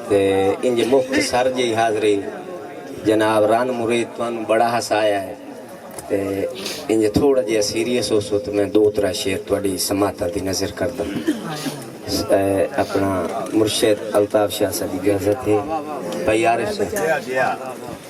تے انج مختصر جئی حاضری جناب رن مرید تانوں بڑا ہسایا ہے تے انج تھوڑا جیا سیریس ہو سو تے میں دو ترا شعر تواڈی سماعتاں دی نظر کردا اپنا مرشد الطاف شاہ صاحب دی اجازت ہے بھائی عارف صاحب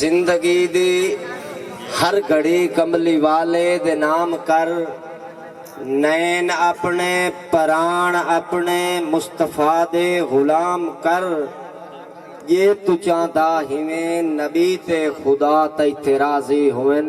زندگی دی ہر گھڑی کملی والے دے نام کر نین اپنے پران اپنے مصطفی دے غلام کر جے توں چاہندا ہیویں نبی تے خدا تیتے راضی ہوون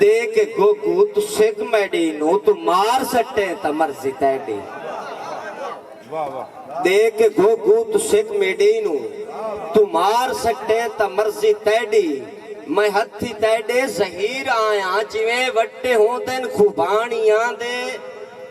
دے کے گوگو تو سگ میڈی نو تو مار سٹیں تا مرضی تیڈی دے کے گوگو تو سگ میڈی نو تو مار سٹیں تا مرضی تیڈی میں ہتھی تیڈے زہیر آیاں جیویں وٹے ہوندن خوبانیاں دے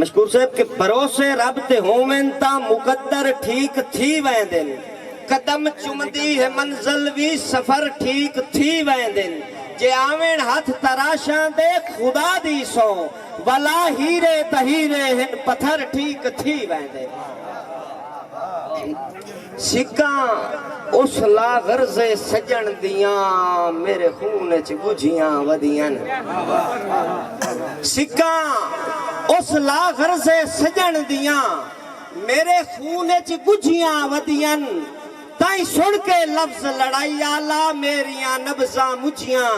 مشکور صاحب کہ بھروسے رب تے ہوون تاں مقدر ٹھیک تھی ویندن قدم چمدی ہے منزل وی سفر ٹھیک تھی ویندن جے آون ہتھ تراشاں دے خدا دی سوں ولا ہیرے تہیرے ہن پتھر ٹھیک تھی ویندن۔ سکاں اس لاغرض سجݨ دیاں میرے خون اچ ڳجھیاں ودیئن سکاں اس لاغرض سجݨ دیاں میرے خون اچ ڳجھیاں ودیئن تئیں سݨ کے لفظ لڑائی آلا میریاں نبضاں مجھیاں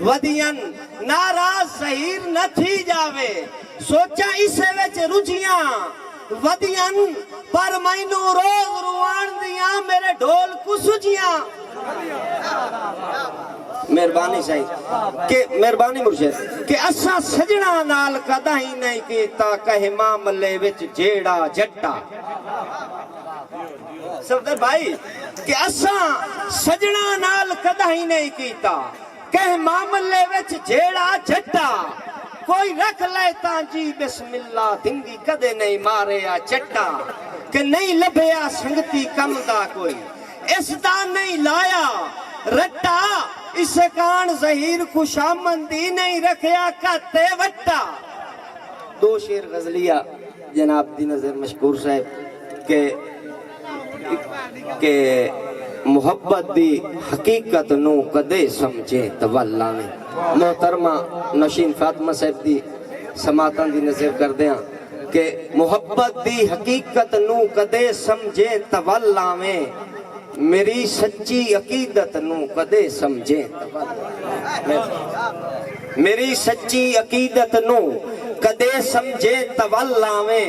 ودیئن ناراض ظہیر نہ تھی ڄاوے سوچاں اسے وچ رجھیاں ودیاں پر مینوں روز رواݨ دیاں میرے ڈھول کوں سجیاں۔ مہربانی سائیں کہ مہربانی مرشد کہ اساں سجناں نال کداہیں نئیں کیتا کہے معاملے وچ جیڑھا جھٹا۔ صفدر بھائی کہ اساں سجناں نال کداہیں نئیں کیتا۔ کہیں معاملے وچ جھیڑا جھٹا کوئی رکھ لئے تاں جی بسم اللہ دھنگی کدے نئیں مارے آ چٹا کہ نئیں لبھیا سنگتی کم دا کوئی اس دا نئیں لایا رٹا اسے کان زہیر خوشامندی نئیں رکھیا کت اے وٹا۔ دو شعر غزلیہ جناب دی نظر مشکور صاحب کہ۔ کہ محبت دی حقیقت نوں کدے سمجھیں تاں ول لاویں۔ محترمہ نوشین فاطمہ صاحب دی سماعتاں دی نظر کردیاں کہ محبت دی حقیقت نوں کدے سمجھیں تاں ول لاویں میݙی سچی عقیدت نوں کدے سمجھیں تاں ول لاویں میݙی سچی عقیدت نوں کدے سمجھیں تاں ول لاویں۔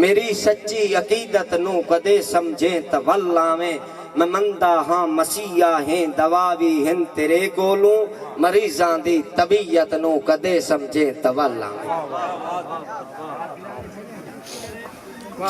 میݙی سچی عقیدت نوں کدے سمجھیں تاں ول آویں میں مندا ہاں مسیحا ہیں دوا وی ہن تیرے کولوں مریضاں دی طبیعت نوں کدے سمجھیں تاں ول آویں۔